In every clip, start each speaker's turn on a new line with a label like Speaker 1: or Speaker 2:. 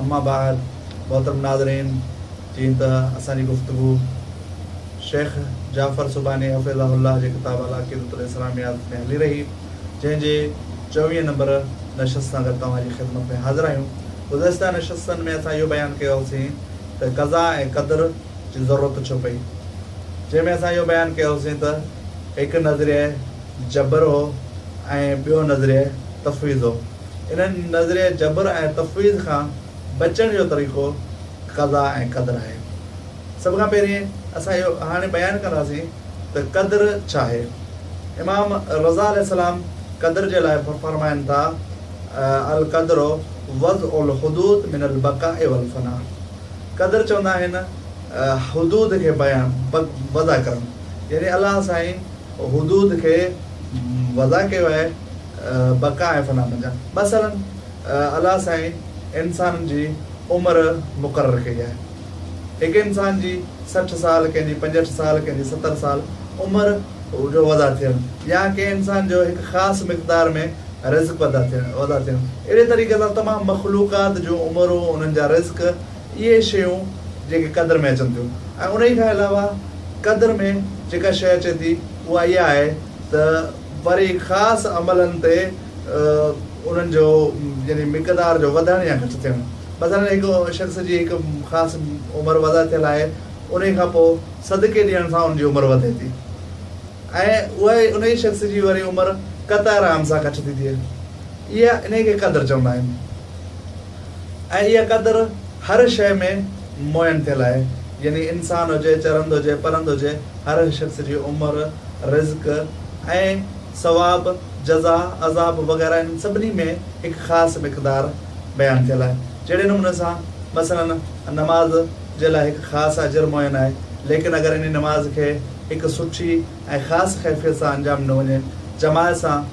Speaker 1: اما بعد محترم ناظرين جيئن ته اسان جي گفتگو شيخ جعفر سبحاني حفظه الله جي ڪتاب العقيدة الاسلاميات ۾ هلي رهي جنهن جي چوويهه نمبر نشست سان گڏ توهان جي خدمت ۾ حاضر آهيون گذشته نشستن ۾ اسان اهو بيان ڪيو هوسين ته قضا ۽ قدر جي ضرورت ڇو پئي جنهن ۾ اسان اهو بيان ڪيو هوسين ته هڪ نظريه جبر هو ۽ ٻيو نظريه تفويض هو. انهن نظريه جبر ۽ تفويض کان بچڻ جو طريقو قضا ۽ قدر آهي. سڀ کان پهرين اسان اهو هاڻي بيان ڪنداسين ته قدر ڇا آهي؟ امام رضا عليه السلام قدر جي لاء فرمائن ٿا، القدر وضع الحدود من البقاء والفناء قدر چوندا آهن حدود کي بيان، وضع ڪرڻ، يعني الله سائين حدود کي وضع ڪيو آهي، بقا ۽ فنا منجهان مثلاً الله سائين انسانن جي عمر مقرر ڪئي آهي. هڪ انسان جي سٺ سال، ڪنهن جي پنجهٺ سال، ڪنهن جي ستر سال عمر جو وڌا ٿيڻ يا ڪنهن انسان جو هڪ خاص مقدار ۾ رزق وڌا وڌا ٿيڻ اهڙي طريقي سان تمام مخلوقات جون عمرون، انهن جا رزق اهي شيون جيڪي قدر ۾ اچن ٿيون ۽ انهي کان علاوه قدر ۾ جيڪا شيء اچي ٿي اها اها آهي ته، وري خاص عملن تي انهن جو يعني مقدار جو وڌڻ يا گهٽ ٿيڻ مثلا هڪ شخص جي هڪ خاص عمر وضع ٿيل آهي انهي کان پوء صدقي ڏيڻ سان ان جي عمر وڌي ٿي ۽ اهي انهي شخص جي وري عمر قطع رحم سان گهٽ ٿي ٿئي اها انهي کي قدر چوندا آهن. ۽ اها قدر هر شيء ۾ معين ٿيل آهي، يعني انسان هجي، چرند هجي، پرند هجي، هر شخص جي عمر، رزق ۽ ثواب، جزا، عذاب وغيره انهن سڀني ۾ هڪ خاص مقدار بيان ٿيل آهي. جهڙي نموني سان مثلاً نماز جي لاء هڪ خاص اجر معين آهي، ليڪن اگر انهي نماز کي هڪ سٺي، ۽ خاص خيفيت سان انجام نه وڃي، جماعت سان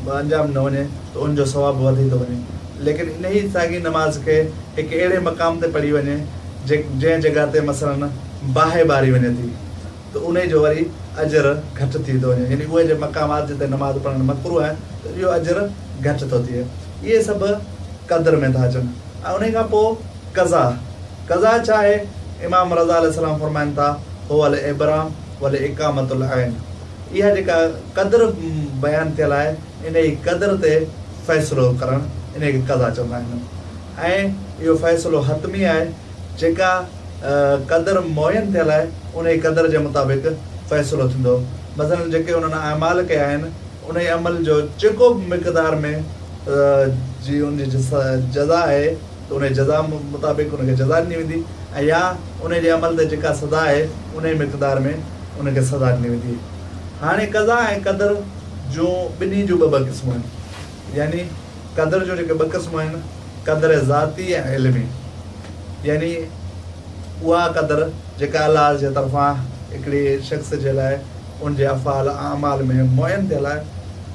Speaker 1: به انجام نه وڃي ته ان جو ثواب وڌي ٿو وڃي. ليڪن انهيء ساڳي نماز کي هڪ اهڙي مقام تي پڙهي وڃي جنهن جڳهه تي مثلاً باهه ٻاري وڃي ٿي ته انهيء جو وري اجر گهٽ ٿي ٿو وڃي يعني اهي مقامات جتي نماز پڙهڻ مڪروه آهي ته اهو اجر گهٽ ٿو ٿئي. اهي سڀ قدر ۾ ٿا اچن ۽ انهيء کان پوء قضا. قضا ڇا آهي؟ امام رضه عليه السلام فرمائن ٿا، هو الابرام. ولاقامة العين اها جيڪا قدر بيان ٿيل آهي انهي قدر تي فيصلو ڪرڻ انهي کي قضا چوندا آهن ۽ اهو فيصلو حتمي آهي جيڪا قدر معين ٿيل آهي انهي قدر جي مطابق فيصلو ٿيندو مثلا جيڪي انهن اعمال ڪيا آهن انهي عمل جو جيڪو به مقدار ۾ جي ان جي جزا آهي ته انهيء جزا مطابق ان کي جزا ڏني ويندي ۽ يا انهيء جي عمل تي جيڪا سزا آهي انهيء مقدار ۾ ان کي سزا ڏني ويندي. هاڻي قضا ۽ قدر جون ٻنهي جون ٻه ٻه قسمون آهن. يعني قدر جون جيڪي ٻه قسمون آهن، قدر ذاتي ۽ علمي. يعني اها قدر جيڪا الله جي طرفان هڪڙي شخص جي لاء ان جي افعال ۽ اعمال ۾ معين ٿيل آهي،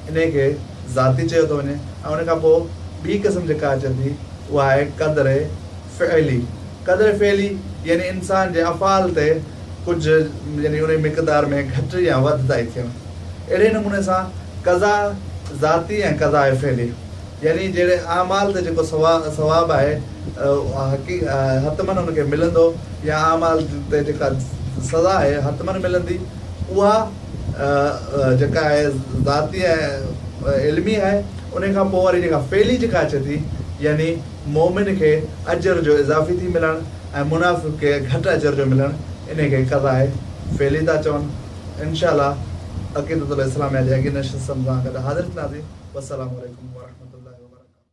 Speaker 1: انهيء کي، ذاتي چيو ٿو وڃي ۽ ان کان پوء ٻي قسم جيڪا اچي ٿي اها آهي قدر فعلي. قدر فعلي يعني انسان جي افعال تي ڪجهه يعني انهي مقدار ۾ گهٽ يا وڌتائي ٿيڻ. اهڙي نموني سان قضا ذاتي ۽ قضاء فعلي يعني جهڙي اعمال تي جيڪو ثواب آهي اهو حتمن ان کي ملندو يا اعمال تي جيڪا سزا آهي حتمن ملندي اها جيڪا آهي ذاتي آهي علمي آهي انهي کان پوء واري جيڪا فعلي جيڪا اچي ٿي يعني مؤمن کي اجر جو اضافي ٿي ملڻ ۽ منافق کي گهٽ اجر جو ملڻ انهي کي قضاء فعلي ٿا چون انشاء الله عقيدة الاسلاميه جي اڳين نشست سان گڏ حاضر ٿينداسين والسلام عليڪم ورحمة الله وبرڪاته.